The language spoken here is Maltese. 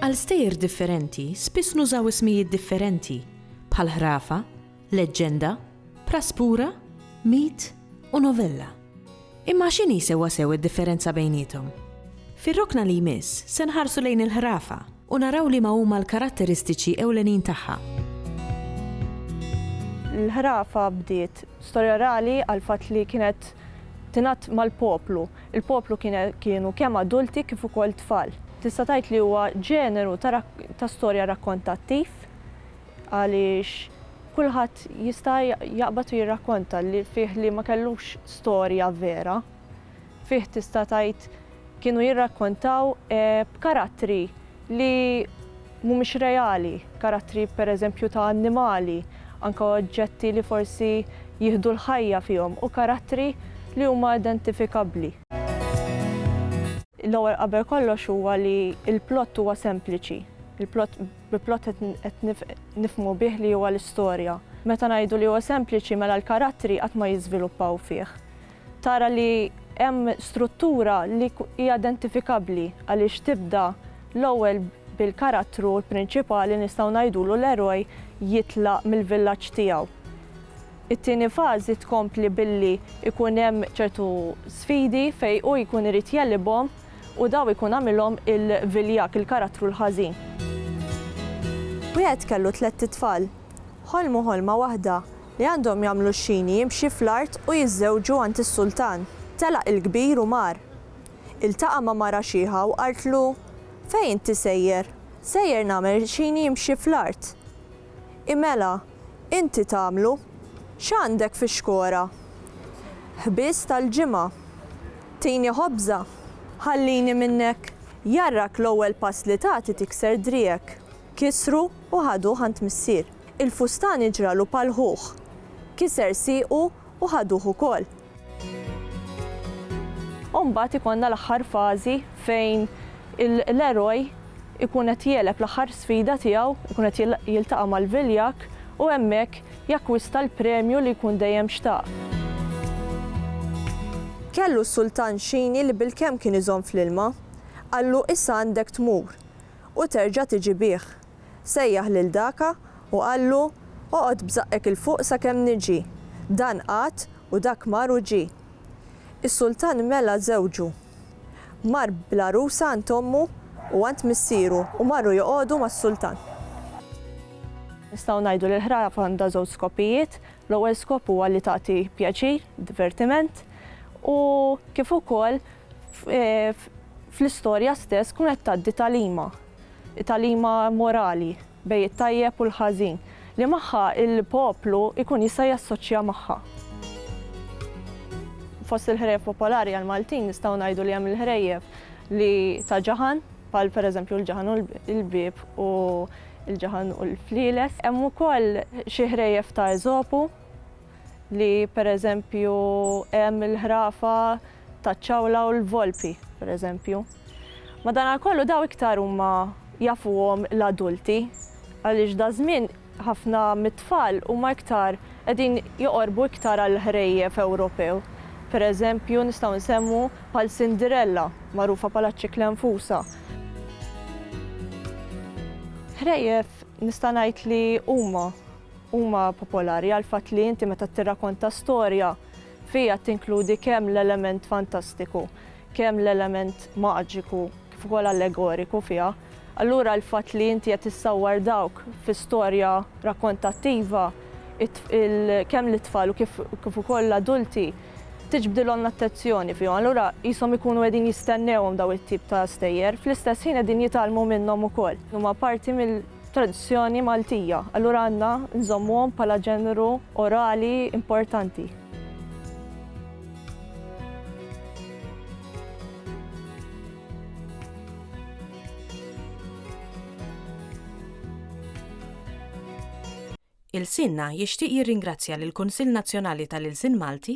Għal stejjer differenti, spiss nużaw ismijiet differenti, bħal ħrafa, leġġenda, praspura, mit u novella. Imma x'inhi sewwasew id-differenza bejniethom? Fir-rokna li jmiss se nħarsu lejn il-ħrafa u naraw liema huma l-karatteristiċi ewlenin tagħha. Il-ħrafa bdiet storja orali għall-fatt li kienet tingħadd mal-poplu. Il-poplu kienu kemm adulti kif ukoll tfal. Tista' tgħid li huwa ġeneru ta' storja rakkontattiv. għaliex kulħadd jista' jaqbad u jirrakkonta li fih li ma kellux storja vera. Fih tista' tgħid kienu jirrakkontaw b'karattri li mhumiex reali, karattri pereżempju ta' annimali, anke oġġetti li forsi jieħdu l-ħajja fihom u karattri li huma identifikabbli. L-ewwel qabel kollox huwa li l-plott huwa sempliċi. Il-plott Bi plot qed nifhmu bih li huwa l-istorja. Meta ngħidu li huwa sempliċi mela l-karattri qatt ma jiżviluppaw fih. Tara li hemm struttura li hija identifikabbli għaliex tibda l-ewwel bil-karattru l-prinċipali nistgħu ngħidulu l-eroj jitlaq mill-villaġġ tiegħu. It-tieni fażi tkompli billi jkun hemm ċertu sfidi fejn hu jkun irid jegħlibhom. U daw ikun għamilhom il-viljak, il-karattru l-ħażin. Wieħed kellu tlett itfal. Ħolmu ħolma waħda, li għandhom jagħmlu x-xini jimxi fl-art u jiżżewġu għand is-sultan. Telaq il-kbir u mar. Iltaqa' ma' mara xiħa u qaltlu, Fejn inti sejjer? Sejjer nagħmel xini jimxi fl-art. I mela, inti tagħmlu. X'għandek fix-xkora? Ħbież tal-ġimgħa. Tini ħobża? Ħallini minnek! Jarrak l-ewwel pass li tagħti tikser driegħek. Kisru u ħaduh għand missier. Il-fustani ġralu pal-ħuh. Kiser siequ u ħaduh ukoll. U mbagħad ikollna l-aħħar fażi fejn l-eroj ikun qed jegħleb l-aħħar sfida tiegħu, ikun qed jiltaqa' mal-viljakk u hemmhekk jakkwista l-premju li jkun dejjem xtaq. Kellu s-sultan xini li bilkemm kien iżomm fl-ilma, qallu issa għandek tmur u terġa' tiġi bih. Sejjaħ lil daka u qallu, Oqgħod b'żaqqek 'il fuq sakemm niġi. Dan qagħad u dak mar u ġie. Is-sultan mela żewġu. Mar bl-għarusa għand ommu u għand missieru u marru joqogħdu mas-sultan. Nistgħu ngħidu li l-ħrab għandha żewġ skopijiet. L-ewwel skop huwa li tagħti pjaċir, divertiment, u kif ukoll fl-istorja stess tkun qed tgħaddi tagħlima. Tagħlima morali bejn it-tajjeb u l-ħażin li magħha l-poplu jkun jista' jassoċja magħha. Fost il-ħrejjef popolari għall-Maltin nistgħu ngħidu li hemm il-ħrejjef li ta' ġaħan bħal pereżempju l-ġaħan u l-bieb u l-ġaħan u l-flieles. Hemm ukoll xi ħrejjef ta' Eżopu li pereżempju hemm il-ħrafa taċ-ċawla u l-volpi, pereżempju. Madankollu dawn iktar huma jafuhom l-adulti għaliex daż-żmien ħafna mit-tfal huma iktar qegħdin joqorbu iktar għall-ħrejjef Ewropew. Pereżempju nistgħu nsemmu bħal Cinderella, magħrufa bħala ċ-ċikla nfusha. Ħrejjef nista' ngħid li huma huma popolari għall-fatt li inti meta tirrakonta storja Fiha tinkludi kemm l-element fantastiku, kemm l-element maġiku kif ukoll allegoriku fiha. Allura l-fatt li inti qed issawwar dawk fi storja rakkontattiva, kemm lit-tfal u kif kif ukoll l-adulti, tiġbdilhom l-attenzjoni fihom. Allura qishom ikunu qegħdin jistennewhom dawn it-tip ta' stejjer. Fl-istess ħin qegħdin jitgħallmu minnhom ukoll. Huma parti mill. tradizzjoni Maltija, allura għandna nżommuhom bħala ġeneru orali importanti. Ilsienna jixtieq jirringrazzja lill-Kunsill Nazzjonali tal-Ilsien Malti,